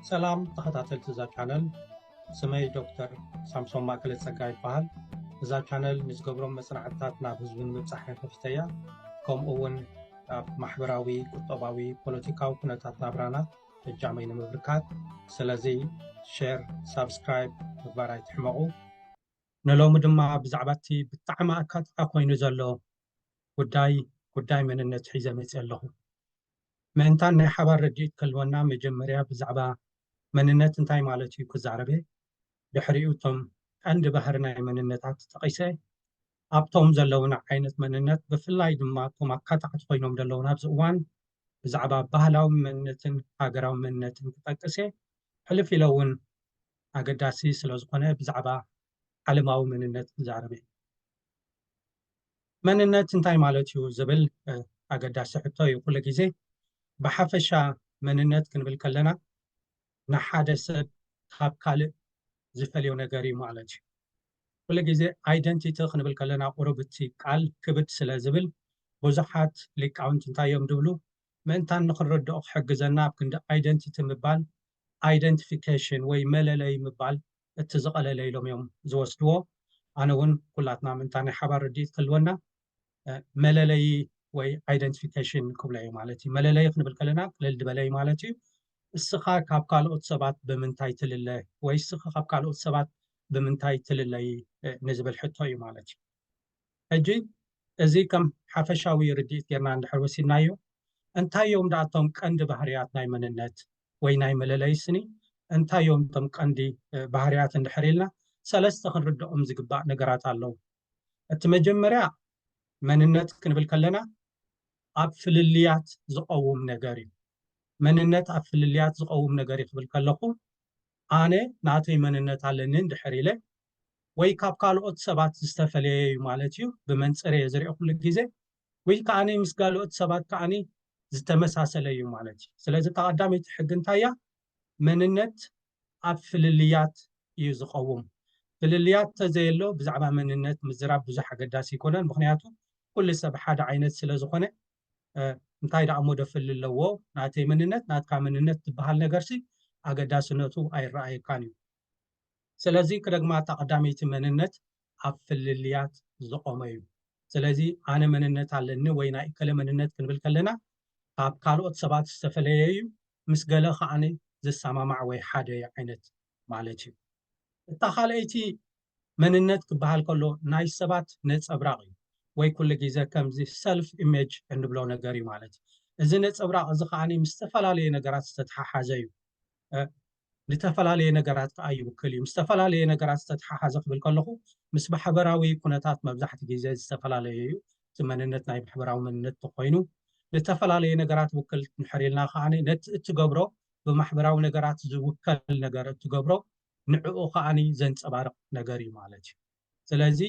ሰላም ተኸታተልቲ እዛ ቻነል ስመይ ዶክተር ሳምሶም ማእከለ ጸጋ ይበሃል እዛ ቻነል ንዝገብሮም መጽናዕትታት ናብ ህዝቢ ንምብጻሕ ከፊተ እያ ከምኡ እውን ኣብ ማሕበራዊ ቁጠባዊ ፖለቲካዊ ኩነታት ናብራና እጃመይ ንምብርካት ስለዚ ሸር ሳብስክራይብ ምግባር ኣይትሕመቑ ንሎሚ ድማ ብዛዕባ እቲ ብጣዕሚ ኣካትዓ ኮይኑ ዘሎ ጉዳይ ጉዳይ መንነት ሒዘ መፅ ኣለኹ ምእንታን ናይ ሓባር ርድኢት ክህልወና መጀመርያ ብዛዕባ መንነት እንታይ ማለት እዩ ክዛረበ ድሕሪኡ እቶም ቀንዲ ባህሪ ናይ መንነታት ጠቒሰ ኣብቶም ዘለውና ዓይነት መንነት ብፍላይ ድማ እቶም ኣካታዕቲ ኮይኖም ዘለውን ኣብዚ እዋን ብዛዕባ ባህላዊ መንነትን ሃገራዊ መንነትን ክጠቅስ እየ ሕልፍ ኢለ እውን ኣገዳሲ ስለዝኾነ ብዛዕባ ዓለማዊ መንነት ክዛረበ እየ። መንነት እንታይ ማለት እዩ ዝብል ኣገዳሲ ሕቶ እዩ ኩሉ ግዜ። ብሓፈሻ መንነት ክንብል ከለና ንሓደ ሰብ ካብ ካልእ ዝፈልዮ ነገር እዩ ማለት እዩ። ኩሉ ግዜ ኣይደንቲቲ ክንብል ከለና ቁሩብ እቲ ቃል ክብድ ስለ ዝብል ብዙሓት ሊቃውንቲ እንታይ እዮም ዝብሉ ምእንታን ንኽንርድኦ ክሕግዘና ኣብ ክንዲ ኣይደንቲቲ ምባል ኣይደንቲፊኬሽን ወይ መለለዪ ምባል እቲ ዝቀለለ ኢሎም እዮም ዝወስድዎ ኣነ ውን ኩላትና ምእንታ ናይ ሓባር ርድኢት ክህልወና መለለዪ ወይ ኣይደንቲፊኬሽን ክብሎ እየ ማለት እዩ መለለዪ ክንብል ከለና ቅልል ዝበለ እዩ ማለት እዩ እስኻ ካብ ካልኦት ሰባት ብምንታይ ትልለ ወይ እስኺ ካብ ካልኦት ሰባት ብምንታይ ትልለዪ ንዝብል ሕቶ እዩ ማለት እዩ ሕጂ እዚ ከም ሓፈሻዊ ርድኢት ጌርና እንድሕር ወሲድናዮ እንታይ እዮም ደኣ እቶም ቀንዲ ባህርያት ናይ መንነት ወይ ናይ መለለዪ ስኒ እንታይ እዮም እቶም ቀንዲ ባህርያት እንድሕር ኢልና ሰለስተ ክንርድኦም ዝግባእ ነገራት ኣለዉ። እቲ መጀመርያ መንነት ክንብል ከለና ኣብ ፍልልያት ዝቐውም ነገር እዩ። መንነት ኣብ ፍልልያት ዝቐውም ነገር እዩ ክብል ከለኹ ኣነ ናተይ መንነት ኣለኒ እንድሕር ኢለ ወይ ካብ ካልኦት ሰባት ዝተፈለየ እዩ ማለት እዩ። ብመንጽር እየ ዝሪኦ ኩሉ ግዜ ወይ ከኣ ምስ ጋልኦት ሰባት ከኣ ዝተመሳሰለ እዩ ማለት እዩ። ስለዚ እታ ቀዳመይቲ ሕጊ እንታይ እያ? መንነት ኣብ ፍልልያት እዩ ዝቐውም። ፍልልያት ተዘየሎ ብዛዕባ መንነት ምዝራብ ብዙሕ ኣገዳሲ ኣይኮነን። ምኽንያቱ ኩሉ ሰብ ሓደ ዓይነት ስለ ዝኾነ እንታይ ደኣ እሞ ደፍሊ ኣለዎ ናተይ መንነት ናትካ መንነት ዝበሃል ነገርሲ ኣገዳስነቱ ኣይረኣየካን እዩ። ስለዚ ክደግማ እታ ቀዳመይቲ መንነት ኣብ ፍልልያት ዝቆመ እዩ። ስለዚ ኣነ መንነት ኣለኒ ወይ ናይ እከለ መንነት ክንብል ከለና ካብ ካልኦት ሰባት ዝተፈለየ እዩ፣ ምስ ገለ ከኣ ዝሰማማዕ ወይ ሓደ እዩ ዓይነት ማለት እዩ። እታ ካልኣይቲ መንነት ክበሃል ከሎ ናይ ሰባት ነጸብራቕ እዩ ወይ ኩሉ ግዜ ከምዚ ሰልፍ ኢሜጅ እንብሎ ነገር እዩ ማለት እዩ። እዚ ነጸብራቕ እዚ ከኣ ምስ ዝተፈላለየ ነገራት ዝተተሓሓዘ እዩ። ንተፈላለየ ነገራት ከኣ ይውክል እዩ። ምስ ዝተፈላለየ ነገራት ዝተተሓሓዘ ክብል ከለኹ ምስ ማሕበራዊ ኩነታት መብዛሕትኡ ግዜ ዝተፈላለየ እዩ። እቲ መንነት ናይ ማሕበራዊ መንነት ተኾይኑ ንተፈላለየ ነገራት ይውክል እንድሕር ኢልና ከኣ ነቲ እትገብሮ ብማሕበራዊ ነገራት ዝውከል ነገር እትገብሮ ንዕኡ ከኣ ዘንጸባርቕ ነገር እዩ ማለት እዩ። ስለዚ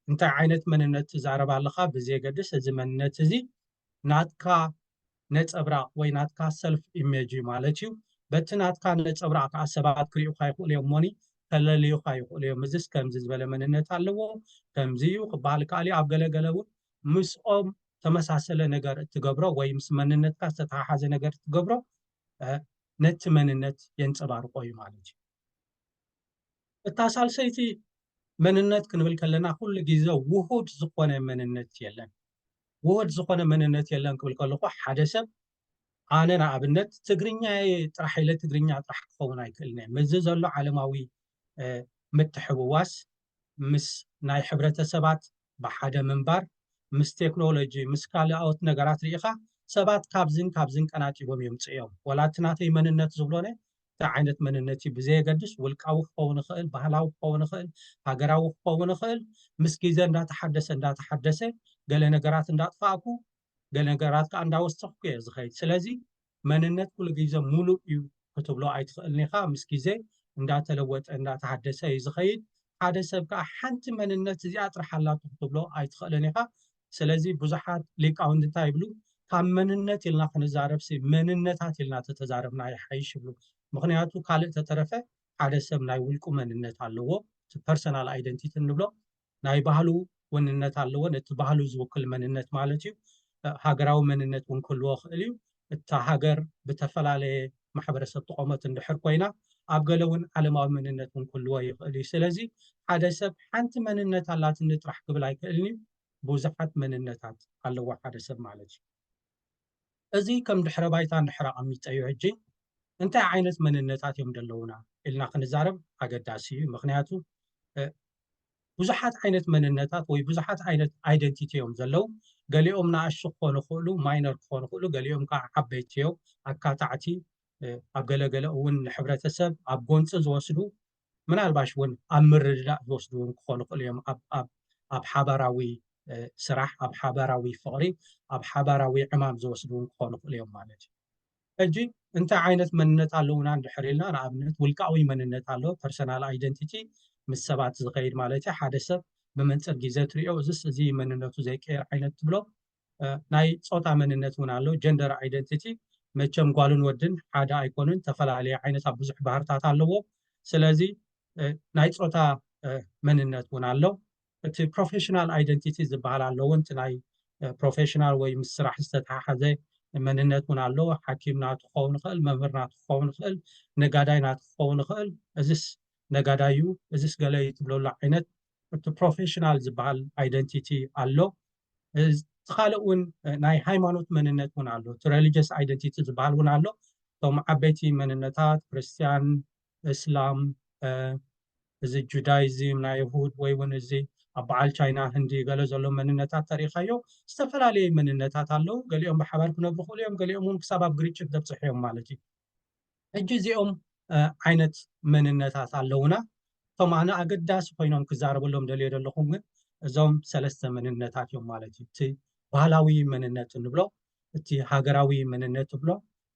እንታይ ዓይነት መንነት ትዛረብ ኣለኻ ብዘየገድስ እዚ መንነት እዚ ናትካ ነፀብራቕ ወይ ናትካ ሰልፍ ኢሜጅ እዩ ማለት እዩ በቲ ናትካ ነፀብራቕ ከዓ ሰባት ክሪኡካ ይኽእሉ እዮም እሞኒ ከለልዩካ ይኽእሉ እዮም እዚስ ከምዚ ዝበለ መንነት ኣለዎ ከምዚ እዩ ክበሃል ይከኣል እዩ ኣብ ገለገለ እውን ምስኦም ተመሳሰለ ነገር እትገብሮ ወይ ምስ መንነትካ ዝተተሓሓዘ ነገር እትገብሮ ነቲ መንነት የንፀባርቆ እዩ ማለት እዩ እታ ሳልሰይቲ መንነት ክንብል ከለና ኩሉ ግዜ ውሁድ ዝኾነ መንነት የለን። ውሁድ ዝኾነ መንነት የለን ክብል ከለኹ ሓደ ሰብ ኣነ ንኣብነት ትግርኛ ጥራሕ ኢለ ትግርኛ ጥራሕ ክኸውን ኣይክእልን እየ ምስዚ ዘሎ ዓለማዊ ምትሕውዋስ ምስ ናይ ሕብረተሰባት ብሓደ ምንባር፣ ምስ ቴክኖሎጂ፣ ምስ ካልኣኦት ነገራት ርኢኻ ሰባት ካብዝን ካብዝን ቀናጢቦም የምጽእዮም። ወላ እቲ ናተይ መንነት ዝብሎነ እንታይ ዓይነት መንነት እዩ ብዘየገድስ ውልቃዊ ክኸውን ይኽእል፣ ባህላዊ ክኸውን ይኽእል፣ ሃገራዊ ክኸውን ይኽእል ምስ ግዜ እንዳተሓደሰ እንዳተሓደሰ ገለ ነገራት እንዳጥፋእኩ ገለ ነገራት ከኣ እንዳወሰኽኩ እየ ዝኸይድ ስለዚ መንነት ኩሉ ግዜ ሙሉእ እዩ ክትብሎ ኣይትኽእልን ኢኻ ምስ ግዜ እንዳተለወጠ እንዳተሃደሰ እዩ ዝኸይድ ሓደ ሰብ ከኣ ሓንቲ መንነት እዚኣ ጥራሕ ኣላቶ ክትብሎ ኣይትኽእልን ኢኻ ስለዚ ብዙሓት ሊቃውንቲ እንታይ ይብሉ ካብ መንነት ኢልና ክንዛረብሲ መንነታት ኢልና ተተዛረብና ይሓይሽ ይብሉ ምኽንያቱ ካልእ ተተረፈ ሓደ ሰብ ናይ ውልቁ መንነት ኣለዎ እቲ ፐርሰናል ኣይደንቲቲ እንብሎ ናይ ባህሉ ወንነት ኣለዎ ነቲ ባህሉ ዝውክል መንነት ማለት እዩ ሃገራዊ መንነት ውን ክህልዎ ይኽእል እዩ እታ ሃገር ብተፈላለየ ማሕበረሰብ ትቆመት እንድሕር ኮይና ኣብ ገለ ውን ዓለማዊ መንነት ውን ክህልዎ ይኽእል እዩ ስለዚ ሓደ ሰብ ሓንቲ መንነት ኣላትኒ ጥራሕ ክብል ኣይክእልን እዩ ብዙሓት መንነታት ኣለዎ ሓደ ሰብ ማለት እዩ። እዚ ከም ድሕረ ባይታ እንድሕር ኣቐሚጠዮ ሕጂ እንታይ ዓይነት መንነታት እዮም ደለዉና ኢልና ክንዛረብ ኣገዳሲ እዩ ምኽንያቱ ብዙሓት ዓይነት መንነታት ወይ ብዙሓት ዓይነት ኣይደንቲቲ እዮም ዘለዉ። ገሊኦም ንኣሽቱ ክኾኑ ይኽእሉ፣ ማይነር ክኾኑ ይኽእሉ፣ ገሊኦም ከዓ ዓበይቲ እዮም፣ ኣካታዕቲ፣ ኣብ ገለ ገለ እውን ንሕብረተሰብ ኣብ ጎንፂ ዝወስዱ፣ ምናልባሽ እውን ኣብ ምርድዳእ ዝወስዱ እውን ክኾኑ ይኽእሉ እዮም፣ ኣብ ሓባራዊ ስራሕ፣ ኣብ ሓባራዊ ፍቕሪ፣ ኣብ ሓባራዊ ዕማም ዝወስዱ እውን ክኾኑ ይኽእሉ እዮም ማለት እዩ። ሕጂ እንታይ ዓይነት መንነት ኣለዉና እንድሕር ኢልና ንኣብነት ውልቃዊ መንነት ኣሎ፣ Personal Identity፣ ምስ ሰባት ዝኸይድ ማለት እዩ፣ ሓደ ሰብ ብመንጽር ግዜ ትርእዮ እዝስ እዚ እዩ መንነቱ ዘይቅየር ዓይነት ትብሎ፣ ናይ ጾታ መንነት እውን ኣሎ፣ Gender Identity፣ መቸም ጓልን ወድን ሓደ ኣይኮኑን ተፈላለየ ዓይነት ኣብ ብዙሕ ባህርታት ኣለዎ፣ ስለዚ ናይ ጾታ መንነት እውን ኣሎ። እቲ ፕሮፌሽናል ኣይደንቲቲ ዝበሃል ኣሎ እውን እቲ ናይ ፕሮፌሽናል ወይ ምስ ስራሕ ዝተተሓሓዘ መንነት እውን ኣሎ ሓኪም ናቱ ክኸውን ይኽእል መምህር ናቱ ክኸውን ይኽእል ነጋዳይ ናቱ ክኸውን ይኽእል እዚስ ነጋዳይ እዩ እዚስ ገለ እዩ ትብለሉ ዓይነት እቲ ፕሮፌሽናል ዝበሃል ኣይደንቲቲ ኣሎ እቲ ካልእ እውን ናይ ሃይማኖት መንነት እውን ኣሎ እቲ ሬሊጀስ ኣይደንቲቲ ዝበሃል እውን ኣሎ እቶም ዓበይቲ መንነታት ክርስትያን እስላም እዚ ጁዳይዝም ናይ እሁድ ወይ ውን እዚ ኣብ በዓል ቻይና ህንዲ ገለ ዘሎ መንነታት ተሪእኻዮ ዝተፈላለዩ መንነታት ኣለው ገሊኦም ብሓባር ክነብሩ ክእሉ እዮም ገሊኦም ውን ክሳብ ኣብ ግርጭት ዘብፅሑ እዮም ማለት እዩ ሕጂ እዚኦም ዓይነት መንነታት ኣለውና እቶም ኣነ ኣገዳሲ ኮይኖም ክዛረበሎም ደልዮ ዘለኹ ግን እዞም ሰለስተ መንነታት እዮም ማለት እዩ እቲ ባህላዊ መንነት ንብሎ እቲ ሃገራዊ መንነት ንብሎ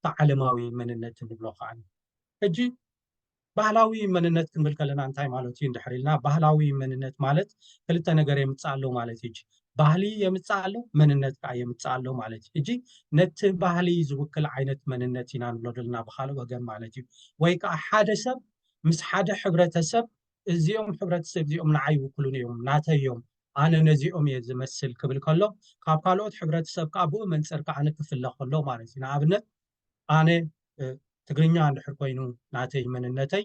ብዓለማዊ መንነት ንብሎ ከኣ ሕጂ ባህላዊ መንነት ክንብል ከለና እንታይ ማለት እዩ እንድሕር ኢልና ባህላዊ መንነት ማለት ክልተ ነገር የምጽእ ኣሎ ማለት እዩ ባህሊ የምጽእ ኣሎ መንነት ከዓ የምጽእ ኣሎ ማለት እዩ እጂ ነቲ ባህሊ ዝውክል ዓይነት መንነት ኢና ንብሎ ዘለና ብካልእ ወገን ማለት እዩ ወይ ከዓ ሓደ ሰብ ምስ ሓደ ሕብረተሰብ እዚኦም ሕብረተሰብ እዚኦም ንዓ ይውክሉን እዮም ናተዮም ኣነ ነዚኦም እየ ዝመስል ክብል ከሎ ካብ ካልኦት ሕብረተሰብ ከኣ ብኡ መንጽር ከኣ ክፍለ ከሎ ማለት እዩ። ንኣብነት ኣነ ትግርኛ እንድሕር ኮይኑ ናተይ መንነተይ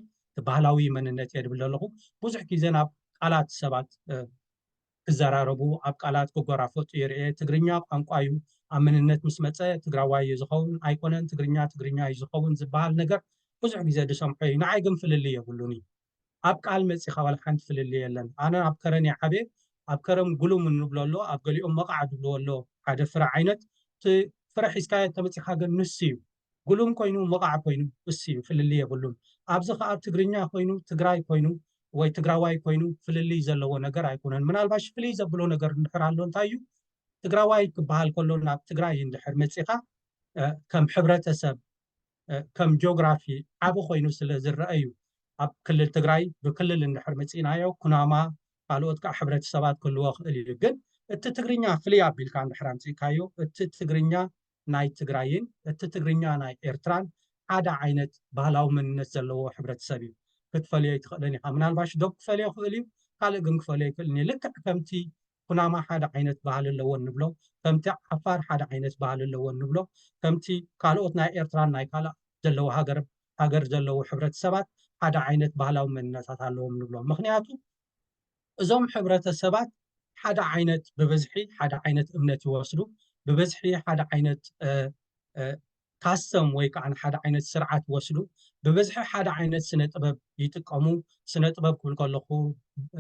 ባህላዊ መንነት እየ ድብል ዘለኹ። ብዙሕ ግዜ ናብ ቃላት ሰባት ክዘራረቡ ኣብ ቃላት ክጎራፈጡ ይርኤ። ትግርኛ ቋንቋ እዩ ኣብ መንነት ምስ መጸ ትግራዋይ እዩ ዝኸውን ኣይኮነን ትግርኛ ትግርኛ እዩ ዝኸውን ዝበሃል ነገር ብዙሕ ግዜ ድሰምዖ እዩ። ንዓይ ግን ፍልልይ የብሉን እዩ። ኣብ ቃል መጺኻ ዋላ ሓንቲ ፍልልይ የለን ኣነ ኣብ ከረን እየ ዓብየ ኣብ ከረም ጉሉም እንብሎ ኣሎ ኣብ ገሊኦም መቓዕ ዝብልዎ ኣሎ ሓደ ፍረ ዓይነት እቲ ፍረ ሒዝካዮ እንተመጺኻ ግን ንሱ እዩ ጉሉም ኮይኑ መቓዕ ኮይኑ እሱ እዩ ፍልልይ የብሉን ኣብዚ ከኣ ትግርኛ ኮይኑ ትግራይ ኮይኑ ወይ ትግራዋይ ኮይኑ ፍልልይ ዘለዎ ነገር ኣይኮነን ምናልባሽ ፍልይ ዘብሎ ነገር እንድሕር ኣሎ እንታይ እዩ ትግራዋይ ክበሃል ከሎ ናብ ትግራይ እንድሕር መጺኻ ከም ሕብረተሰብ ከም ጆግራፊ ዓብ ኮይኑ ስለ ዝረኣ እዩ ኣብ ክልል ትግራይ ብክልል እንድሕር መፂእናዮ ኩናማ ካልኦት ከዓ ሕብረተሰባት ክህልዎ ክእል እዩ ግን እቲ ትግርኛ ፍልይ ኣቢልካ እንድሕር ኣምፂእካዮ እቲ ትግርኛ ናይ ትግራይን እቲ ትግርኛ ናይ ኤርትራን ሓደ ዓይነት ባህላዊ መንነት ዘለዎ ሕብረተሰብ እዩ ክትፈልዮ ኣይትኽእልን ኢኻ ምናልባሽ ዶብ ክፈልዮ ክእል እዩ ካልእ ግን ክፈልዮ ኣይክእልን እዩ ልክዕ ከምቲ ኩናማ ሓደ ዓይነት ባህሊ ኣለወን ንብሎ፣ ከምቲ ዓፋር ሓደ ዓይነት ባህሊ ኣለወን ንብሎ፣ ከምቲ ካልኦት ናይ ኤርትራን ናይ ካልእ ዘለዉ ሃገር ሃገር ዘለዉ ሕብረተሰባት ሓደ ዓይነት ባህላዊ መንነታት ኣለዎም ንብሎ። ምኽንያቱ እዞም ሕብረተሰባት ሓደ ዓይነት ብብዝሒ ሓደ ዓይነት እምነት ይወስዱ፣ ብብዝሒ ሓደ ዓይነት ካስተም ወይ ከኣ ንሓደ ዓይነት ስርዓት ወስዱ ብብዝሒ ሓደ ዓይነት ስነ ጥበብ ይጥቀሙ ስነ ጥበብ ክብል ከለኹ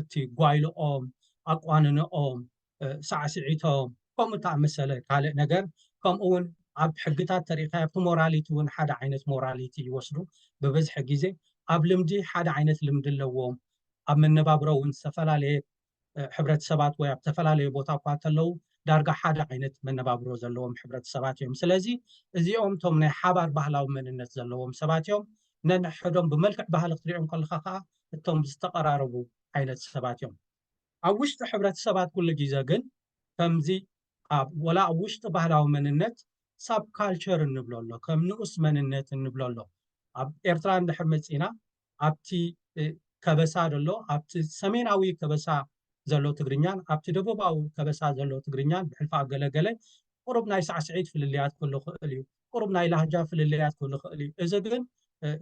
እቲ ጓይልኦም ኣቋንንኦም ሳዕስዒቶም ከምኡ ተኣመሰለ ካልእ ነገር ከምኡ ውን ኣብ ሕግታት ተሪእኻ ኣብቲ ሞራሊቲ ውን ሓደ ዓይነት ሞራሊቲ ይወስዱ ብብዝሒ ግዜ ኣብ ልምዲ ሓደ ዓይነት ልምዲ ኣለዎም ኣብ መነባብሮ ውን ዝተፈላለየ ሕብረተሰባት ወይ ኣብ ዝተፈላለዩ ቦታ እኳ እንተለዉ ዳርጋ ሓደ ዓይነት መነባብሮ ዘለዎም ሕብረተሰባት እዮም። ስለዚ እዚኦም እቶም ናይ ሓባር ባህላዊ መንነት ዘለዎም ሰባት እዮም። ነንሕሕዶም ብመልክዕ ባህሊ ክትሪኦም ከለኻ ከዓ እቶም ዝተቐራረቡ ዓይነት ሰባት እዮም። ኣብ ውሽጢ ሕብረተሰባት ኩሉ ግዘ ግን ከምዚ ኣብ ወላ ኣብ ውሽጢ ባህላዊ መንነት ሳብ ካልቸር እንብሎ ኣሎ ከም ንኡስ መንነት እንብሎ ኣሎ። ኣብ ኤርትራ እንድሕር መፂእና ኣብቲ ከበሳ ዘሎ ኣብቲ ሰሜናዊ ከበሳ ዘሎ ትግርኛን ኣብቲ ደቡባዊ ከበሳ ዘሎ ትግርኛን ብሕልፊ ኣብ ገለ ገለ ቁሩብ ናይ ሳዕስዒት ፍልልያት ክህሉ ይኽእል እዩ፣ ቁሩብ ናይ ላህጃ ፍልልያት ክህሉ ይኽእል እዩ። እዚ ግን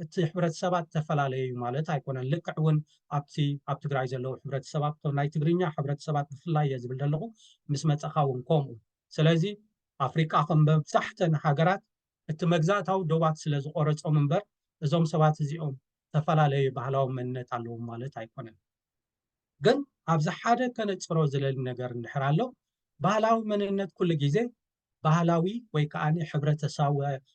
እቲ ሕብረተሰባት እተፈላለየ እዩ ማለት ኣይኮነን። ልክዕ እውን ኣብቲ ኣብ ትግራይ ዘለዉ ሕብረተሰባት እቶም ናይ ትግርኛ ሕብረተሰባት ብፍላይ እየ ዝብል ዘለኹ ምስ መጸኻ እውን ከምኡ ስለዚ ኣፍሪቃ ከም መብዛሕተን ሃገራት እቲ መግዛእታዊ ዶባት ስለ ዝቖረጾም እምበር እዞም ሰባት እዚኦም እተፈላለዩ ባህላዊ መንነት ኣለዎም ማለት ኣይኮነን። ግን ኣብዚ ሓደ ከነጽሮ ዝለሊ ነገር እንድሕር ኣሎ ባህላዊ መንነት ኩሉ ግዜ ባህላዊ ወይ ከኣ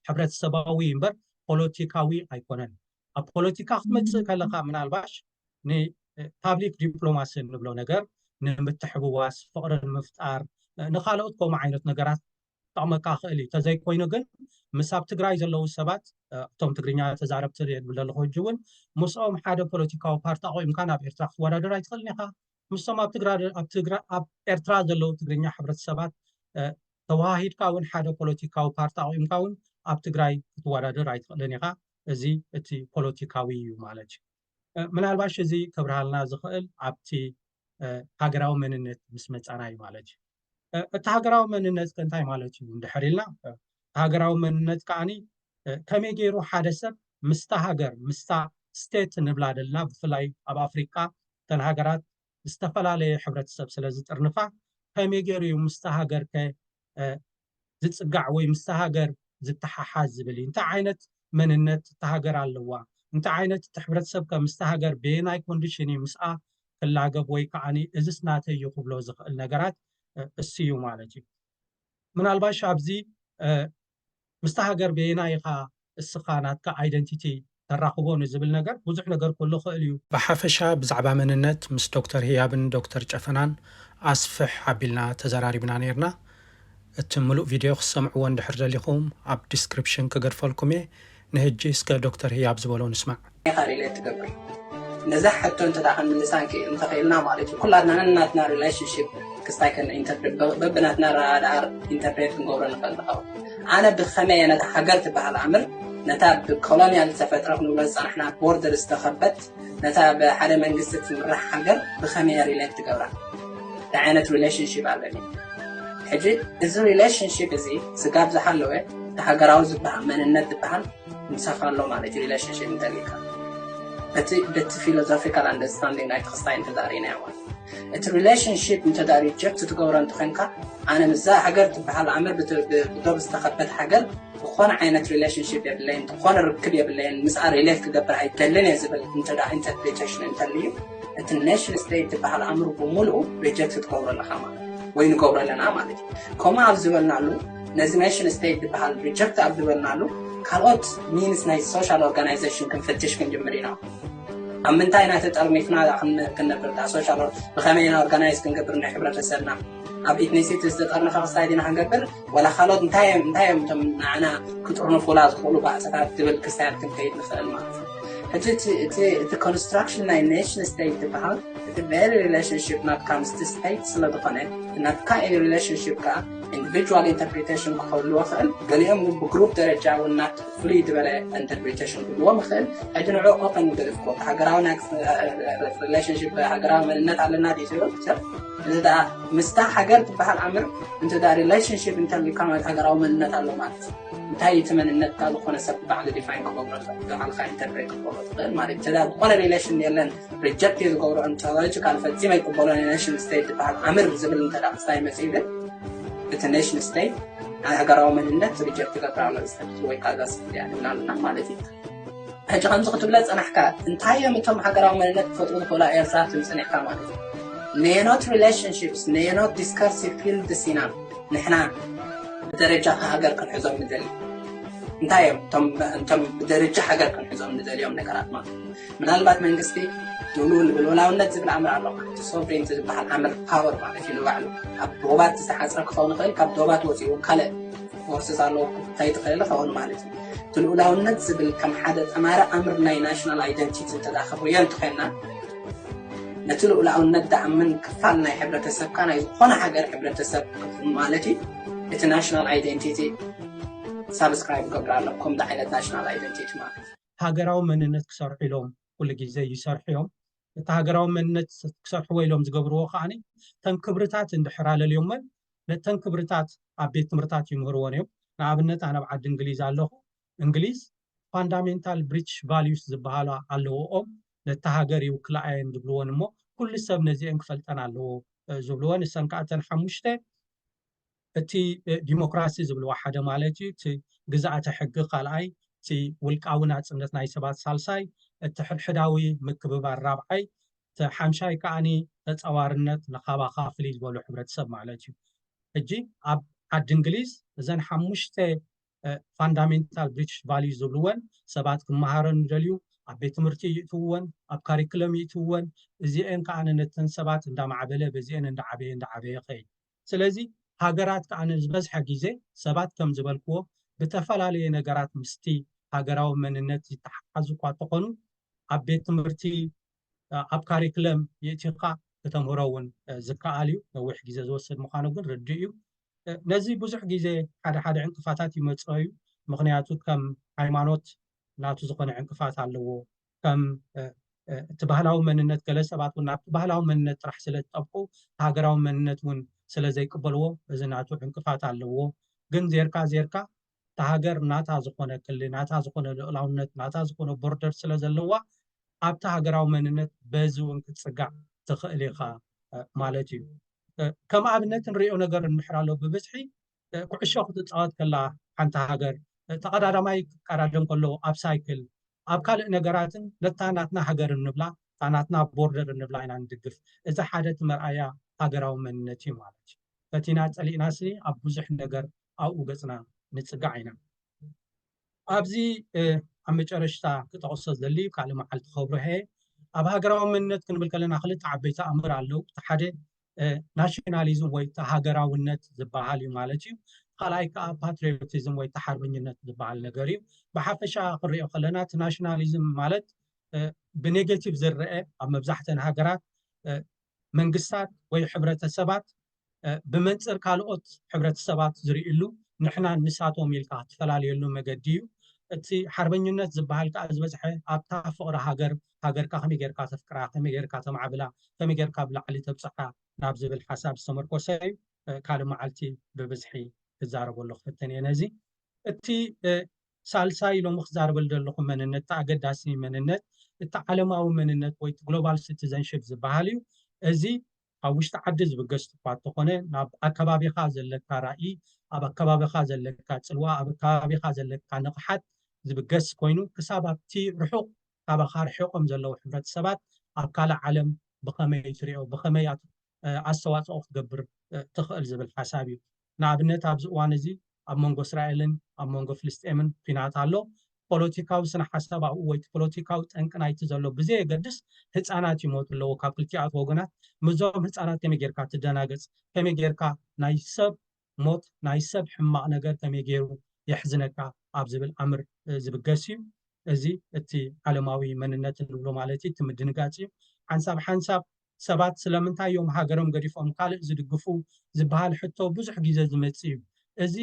ሕብረተሰባዊ እዩ እምበር ፖለቲካዊ ኣይኮነን። ኣብ ፖለቲካ ክትመጽእ ከለኻ ምናልባሽ ንፓብሊክ ዲፕሎማሲ እንብሎ ነገር ንምትሕብዋስ ፍቕሪ ንምፍጣር ንኻልኦት ከምኡ ዓይነት ነገራት ክጠቕመካ ይኽእል እዩ። ተዘይኮይኑ ግን ምስ ኣብ ትግራይ ዘለዉ ሰባት እቶም ትግርኛ ተዛረብቲ እየ ዝብል ዘለኹ ሕጂ እውን ምስኦም ሓደ ፖለቲካዊ ፓርቲ ኣቑምካ ናብ ኤርትራ ክትወዳደር ኣይትኽእልን ኢኻ። ምስቶም ኣብ ኣብ ኤርትራ ዘለዉ ትግርኛ ሕብረተሰባት ተወሃሂድካ እውን ሓደ ፖለቲካዊ ፓርቲ ኣቑምካ እውን ኣብ ትግራይ ክትወዳደር ኣይትኽእልን ኢኻ። እዚ እቲ ፖለቲካዊ እዩ ማለት እዩ። ምናልባሽ እዚ ከብርሃልና ዝኽእል ኣብቲ ሃገራዊ መንነት ምስ መጻና እዩ ማለት እዩ። እቲ ሃገራዊ መንነት ከ እንታይ ማለት እዩ እንድሕር ኢልና ሃገራዊ መንነት ከዓኒ ከመይ ገይሩ ሓደ ሰብ ምስታ ሃገር ምስታ ስቴት ንብላ ደልና ብፍላይ ኣብ ኣፍሪቃ እተን ሃገራት ዝተፈላለየ ሕብረተሰብ ስለ ዝጥርንፋ ከመይ ገይሩ እዩ ምስታ ሃገር ከ ዝጽጋዕ ወይ ምስታ ሃገር ዝተሓሓዝ ዝብል እዩ። እንታይ ዓይነት መንነት እታ ሃገር ኣለዋ፣ እንታይ ዓይነት እቲ ሕብረተሰብ ከ ምስታ ሃገር በየናይ ኮንዲሽን እዩ ምስኣ ክላገብ ወይ ከኣ እዝስ ናተይ እዩ ክብሎ ዝኽእል ነገራት እሱ እዩ ማለት እዩ። ምናልባሽ ኣብዚ ምስታ ሃገር በየናይ ኢኻ እስኻ ናትካ ኣይደንቲቲ ተራኽቦ ንዝብል ነገር ብዙሕ ነገር ክህሉ ይኽእል እዩ። ብሓፈሻ ብዛዕባ መንነት ምስ ዶክተር ህያብን ዶክተር ጨፈናን ኣስፍሕ ኣቢልና ተዘራሪብና ኔርና። እቲ ምሉእ ቪድዮ ክትሰምዕዎ እንድሕር ደሊኹም ኣብ ዲስክሪፕሽን ክገድፈልኩም እየ። ንህጂ እስከ ዶክተር ህያብ ዝበሎ ንስማዕ። ኢኻ ሪሌት ትገብር ነዛ ሕቶ እንተ ክንምልሳ እንክ እንተኽኢልና ማለት እዩ ኩላትና ነናትና ሪሌሽንሽፕ ክስታይ ከን ኢንተርፕሬት በብናትና ረዳር ኢንተርፕሬት ክንገብሮ ንኽእል ንኸውን ኣነ ብኸመይ እየ ነታ ሃገር ትበሃል ኣምር ነታ ብኮሎኒያል ዝተፈጥረ ክንብሎ ዝፀናሕና ቦርደር ዝተኸበት ነታ ብሓደ መንግስቲ ትምራሕ ሃገር ብኸመይ ሪሌት ትገብራ እንታይ ዓይነት ሪሌሽንሽፕ ኣለኒ ሕጂ እዚ ሪሌሽንሽፕ እዚ ስጋብ ዝሃለወ እቲ ሃገራዊ ዝበሃል መንነት ዝበሃል ምሳኻ ኣሎ ማለት እዩ ሪሌሽንሽፕ እንተልካ በቲ በቲ ፊሎዞፊካል ኣንደርስታንዲንግ ናይቲ ክስታይ እንተዳሪናዮ እቲ ሪሌሽንሽፕ እንተዳ ሪጀክት ትገብሮ እንተኮንካ ኣነ ምዛ ሃገር ትበሃል ኣምር ብዶብ ዝተኸበት ሃገር ዝኾነ ዓይነት ሪሌሽንሽፕ የብለይን ዝኾነ ርክብ የብለይን ምስኣ ሪሌት ክገብር ኣይደልን እየ ዝብል እንተዳ ኢንተርፕሪቴሽን እንተልዩ እቲ ኔሽን ስቴት ትበሃል ኣምር ብምሉኡ ሪጀክት ትገብሮ ኣለካ ማለት ወይ ንገብሮ ኣለና ማለት እዩ ከምኡ ኣብ ዝበልናሉ ነዚ ኔሽን ስቴት ዝበሃል ሪጀክት ኣብ ዝበልናሉ ካልኦት ሚንስ ናይ ሶሻል ኦርጋናይዜሽን ክንፍትሽ ክንጅምር ኢና ኣብ ምንታይ ኢና ተጠርኒፍና ዳኣ ክንነብር ዳኣ ሶሻል ብኸመይ ኢና ኦርጋናይዝ ክንገብር ናይ ሕብረተሰብና ኣብ ኢትኒሲቲ ዝተጠርነፈ ክስታይ ዲና ክንገብር ወላ ካልኦት እንታይ እዮም እንታይ እዮም እቶም ንዓና ክጥርንፉላ ዝኽእሉ ባእታታት ዝብል ክስታያት ክንከይድ ንኽእል ማለት እዩ ሕጂ እቲ ኮንስትራክሽን ናይ ኔሽን ስቴት ዝበሃል እቲ ቨሪ ሪሌሽንሽፕ ናትካ ምስቲ ስቴት ስለ ዝኾነ ናትካ ሪሌሽንሽፕ ከዓ ኢንዲቪድዋል ኢንተርፕሪቴሽን ክህልዎ ይኽእል፣ ገሊኦም ግን ብግሩፕ ደረጃ እውን ናት ፍልይ ዝበለ ኢንተርፕሪቴሽን ክህልዎም ይኽእል። ሕጂ ንዕኡ ኮፐ ንገድፍ ኮ ሃገራዊ ናይ ሪሌሽንሺፕ ሃገራዊ መንነት ኣለና ድዩ ዝብል ሰብ እዚ ደኣ ምስታ ሃገር ትበሃል ኣምር እንተ ደኣ ሪሌሽንሺፕ እንተልካ ማለት ሃገራዊ መንነት ኣሎ ማለት እንታይ እቲ መንነትካ ዝኾነ ሰብ ባዕሉ ዲፋይን ክገብሮ ባዕልካ ኢንተርፕሬት ክገብሮ ትኽእል ማለት እዩ። እንተ ደኣ ዝኾነ ሪሌሽን የለን ሪጀክት እየ ዝገብሮ እንተበለች ካል ፈፂመ ኣይቅበሎን እየ ኔሽን ስቴት ዝበሃል ኣምር ዝብል እንተ ክስታይ መፅኡ ግን እቲ ኔሽን ስቴት ናይ ሃገራዊ መንነት ሪጀክት ይገብር ኣሎ ዝሰብቲ ወይ ካልዛ ስብቲ እያ ንብላ ኣለና ማለት እዩ ሕጂ ከምዚ ክትብለ ፀናሕካ እንታይ እዮም እቶም ሃገራዊ መንነት ክፈጥሩ ዝኽእሉ ኤርትራ ትም ፀኒሕካ ማለት እዩ ነየኖት ሪሌሽንሽፕስ ነየኖት ዲስከርሲቭ ፊልድስ ኢና ንሕና ብደረጃ ሃገር ክንሕዞም ንደሊ እንታይ እዮም እቶም ብደረጃ ሃገር ክንሕዞም ንደልዮም ነገራት ማለት እዩ ምናልባት መንግስቲ ድሉ ንብልወላውነት ዝብል ኣምር ኣሎ እቲ ሶቨሬንቲ ዝበሃል ኣምር ፓወር ማለት እዩ ንባዕሉ ኣብ ዶባት ዝተሓፅረ ክኸውን ይኽእል ካብ ዶባት ወፂኡ ካልእ ፎርስስ ኣለዎ ክታይ ትኽእል ይኸውን ማለት እዩ እቲ ልኡላውነት ዝብል ከም ሓደ ጠማሪ ኣምር ናይ ናሽናል ኣይደንቲቲ እንተዳኸብርዮ እንትኾንና ነቲ ልኡላውነት ዳኣምን ክፋል ናይ ሕብረተሰብካ ናይ ዝኾነ ሃገር ሕብረተሰብ ማለት እዩ እቲ ናሽናል ኣይደንቲቲ ሳብስክራይብ ገብር ኣለኩም ዳዓይነት ናሽናል ኣይደንቲቲ ማለት ሃገራዊ መንነት ክሰርሑ ኢሎም ኩሉ ግዜ ይሰርሑ እዮም። እቲ ሃገራዊ መንነት ክሰርሕዎ ኢሎም ዝገብርዎ ከኣ እተን ክብርታት እንድሕር ኣለልዮመን ነተን ክብርታት ኣብ ቤት ትምህርታት ይምህርዎን እዮም። ንኣብነት ኣነ ኣብ ዓዲ እንግሊዝ ኣለኹ፣ እንግሊዝ ፋንዳሜንታል ብሪትሽ ቫልዩስ ዝበሃላ ኣለውኦም፣ ነታ ሃገር ይውክልኣ እየን ዝብልዎን እሞ ኩሉ ሰብ ነዚኤን ክፈልጠን ኣለዎ ዝብልዎን፣ እሰን ከኣ እተን ሓሙሽተ እቲ ዲሞክራሲ ዝብልዎ ሓደ ማለት እዩ፣ እቲ ግዝኣተ ሕጊ ካልኣይ፣ እቲ ውልቃዊ ናጽነት ናይ ሰባት ሳልሳይ፣ እቲ ሕድሕዳዊ ምክብባር ራብዓይ፣ እቲ ሓምሻይ ከኣ ተጻዋርነት ንካባኻ ፍልይ ዝበሉ ሕብረተሰብ ማለት እዩ። ሕጂ ኣብ ዓዲ እንግሊዝ እዘን ሓሙሽተ ፋንዳሜንታል ብሪቲሽ ቫልዩስ ዝብልወን ሰባት ክመሃረን ዝደልዩ ኣብ ቤት ትምህርቲ ይእትውወን፣ ኣብ ካሪክለም ይእትውወን፣ እዚኤን ከኣ ነተን ሰባት እንዳማዕበለ በዚኤን እንዳዓበየ እንዳዓበየ ይኸይድ። ስለዚ ሃገራት ከኣ ንዝበዝሐ ግዜ ሰባት ከም ዝበልክዎ ብተፈላለየ ነገራት ምስቲ ሃገራዊ መንነት ዝተሓሓዙ እኳ እንተኾኑ ኣብ ቤት ትምህርቲ ኣብ ካሪክለም ይእቲኻ ክተምህሮ እውን ዝከኣል እዩ ነዊሕ ግዜ ዝወስድ ምዃኑ ግን ርድእ እዩ ነዚ ብዙሕ ግዜ ሓደ ሓደ ዕንቅፋታት ይመፅኦ እዩ ምክንያቱ ከም ሃይማኖት ናቱ ዝኾነ ዕንቅፋት ኣለዎ ከም እቲ ባህላዊ መንነት ገለ ሰባት እውን ናብቲ ባህላዊ መንነት ጥራሕ ስለ ዝጠብቁ እቲ ሃገራዊ መንነት እውን ስለ ዘይቅበልዎ እዚ ናቱ ዕንቅፋት ኣለዎ ግን ዜርካ ዜርካ እታ ሃገር ናታ ዝኾነ ክሊ ናታ ዝኾነ ልኡላውነት ናታ ዝኾነ ቦርደር ስለ ዘለዋ ኣብቲ ሃገራዊ መንነት በዚ እውን ክትፅጋዕ ትኽእል ኢኻ ማለት እዩ ከም ኣብነት ንሪኦ ነገር እንምሕር ኣሎ ብብዝሒ ኩዕሾ ክትፃወት ከላ ሓንቲ ሃገር ተቐዳዳማይ ክቀዳደም ከሎ ኣብ ሳይክል ኣብ ካልእ ነገራትን ነታ ናትና ሃገር እንብላ እታ ናትና ቦርደር እንብላ ኢና ንድግፍ። እዚ ሓደ እቲ መርኣያ ሃገራዊ መንነት እዩ ማለት እዩ። ፈቲና ጸሊእናሲ ኣብ ብዙሕ ነገር ኣብኡ ገጽና ንጽጋዕ ኢና። ኣብዚ ኣብ መጨረሽታ ክጠቕሶ ዝደሊ ካልእ መዓልቲ ከብርሆ እየ። ኣብ ሃገራዊ መንነት ክንብል ከለና ክልተ ዓበይቲ ኣምር ኣለዉ። እቲ ሓደ ናሽናሊዝም ወይ ሃገራውነት ዝበሃል እዩ ማለት እዩ ካልኣይ ከዓ ፓትሪዮቲዝም ወይ ተሓርበኝነት ዝበሃል ነገር እዩ ብሓፈሻ ክንሪኦ ከለና እቲ ናሽናሊዝም ማለት ብኔጌቲቭ ዝረአ ኣብ መብዛሕተን ሃገራት መንግስታት ወይ ሕብረተሰባት ብመንፅር ካልኦት ሕብረተሰባት ዝርእሉ ንሕና ንሳቶም ኢልካ ትፈላለየሉ መገዲ እዩ እቲ ሓርበኝነት ዝበሃል ከዓ ዝበዝሐ ኣብታ ፍቅሪ ሃገር ሃገርካ ከመይ ጌርካ ተፍቅራ፣ ከመይ ጌርካ ተማዕብላ፣ ከመይ ጌርካ ኣብ ላዕሊ ተብጽሓ ናብ ዝብል ሓሳብ ዝተመርኮሰ እዩ። ካልእ መዓልቲ ብብዝሒ ክዛረበሉ ክፍትን እየ ነዚ። እቲ ሳልሳይ ሎሚ ክዛረበሉ ዘለኹ መንነት፣ እቲ ኣገዳሲ መንነት፣ እቲ ዓለማዊ መንነት ወይ እቲ ግሎባል ሲቲዘንሺፕ ዝበሃል እዩ። እዚ ኣብ ውሽጢ ዓዲ ዝብገስ እኳ እንተኾነ ናብ ኣከባቢኻ ዘለካ ራኢ፣ ኣብ ኣከባቢኻ ዘለካ ጽልዋ፣ ኣብ ኣከባቢኻ ዘለካ ንቕሓት ዝብገስ ኮይኑ ክሳብ ኣብቲ ርሑቕ ካባኻ ርሒቖም ዘለዉ ሕብረተሰባት ኣብ ካልእ ዓለም ብኸመይ ትሪኦ? ብኸመይ ኣስተዋጽኦ ክትገብር ትኽእል? ዝብል ሓሳብ እዩ። ንኣብነት ኣብዚ እዋን እዚ ኣብ መንጎ እስራኤልን ኣብ መንጎ ፍልስጤምን ኲናት ኣሎ። ፖለቲካዊ ስነ-ሓሳብ ኣብኡ ወይ እቲ ፖለቲካዊ ጠንቂ ናይቲ ዘሎ ብዘየገድስ ህጻናት ይሞቱ ኣለዉ ካብ ክልቲኣቱ ወገናት። ምስዞም ህጻናት ከመይ ጌርካ ትደናገጽ? ከመይ ጌርካ ናይ ሰብ ሞት ናይ ሰብ ሕማቕ ነገር ከመይ ገይሩ የሕዝነካ ኣብ ዝብል ኣምር ዝብገስ እዩ። እዚ እቲ ዓለማዊ መንነት እንብሎ ማለት እዩ፣ እቲ ምድንጋጽ እዩ። ሓንሳብ ሓንሳብ ሰባት ስለምንታይ እዮም ሃገሮም ገዲፎም ካልእ ዝድግፉ ዝበሃል ሕቶ ብዙሕ ግዜ ዝመጽእ እዩ። እዚ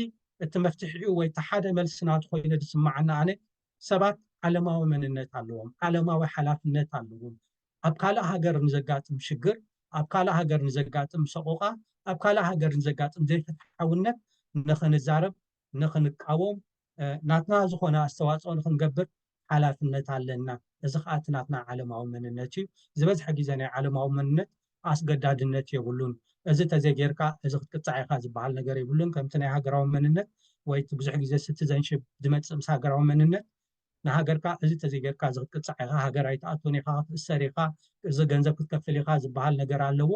እቲ መፍትሒኡ ወይ እቲ ሓደ መልሲ ናቱ ኮይኑ ዝስመዓኒ ኣነ ሰባት ዓለማዊ መንነት ኣለዎም፣ ዓለማዊ ሓላፍነት ኣለዎም፣ ኣብ ካልእ ሃገር ንዘጋጥም ሽግር፣ ኣብ ካልእ ሃገር ንዘጋጥም ሰቖቓ፣ ኣብ ካልእ ሃገር ንዘጋጥም ዘይፍትሓውነት ንኽንዛረብ፣ ንኽንቃወም፣ ናትና ዝኾነ ኣስተዋጽኦ ንኽንገብር ሓላፍነት ኣለና። እዚ ከኣ እቲ ናትና ዓለማዊ መንነት እዩ። ዝበዝሐ ግዜ ናይ ዓለማዊ መንነት ኣስገዳድነት የብሉን። እዚ ተዘይጌርካ እዚ ክትቅጻዕ ኢኻ ዝበሃል ነገር የብሉን። ከምቲ ናይ ሃገራዊ መንነት ወይ እቲ ብዙሕ ግዜ ሲቲዘንሺፕ ዝመጽእ ምስ ሃገራዊ መንነት፣ ንሃገርካ እዚ ተዘይገርካ እዚ ክትቅጻዕ ኢኻ ሃገር ኣይትኣቱን ኢኻ ክትእሰር ኢኻ እዚ ገንዘብ ክትከፍል ኢኻ ዝብሃል ነገር ኣለዎ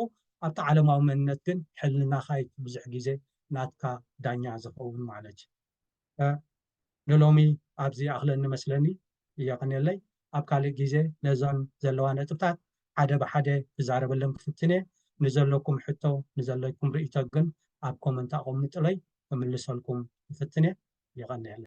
ኣብቲ ዓለማዊ መንነት ግን ሕልናኻ እዩ ብዙሕ ግዜ ናትካ ዳኛ ዝኸውን ማለት እዩ ንሎሚ ኣብዚ ይኣኽለኒ መስለኒ የቐንየለይ ኣብ ካልእ ግዜ ነዞን ዘለዋ ነጥብታት ሓደ ብሓደ ክዛረበለን ክፍትን እየ ንዘለኩም ሕቶ ንዘለኩም ርእይቶ ግን ኣብ ኮመንት ኣቐምጡለይ ክምልሰልኩም ክፍትን እየ የቐንየለይ።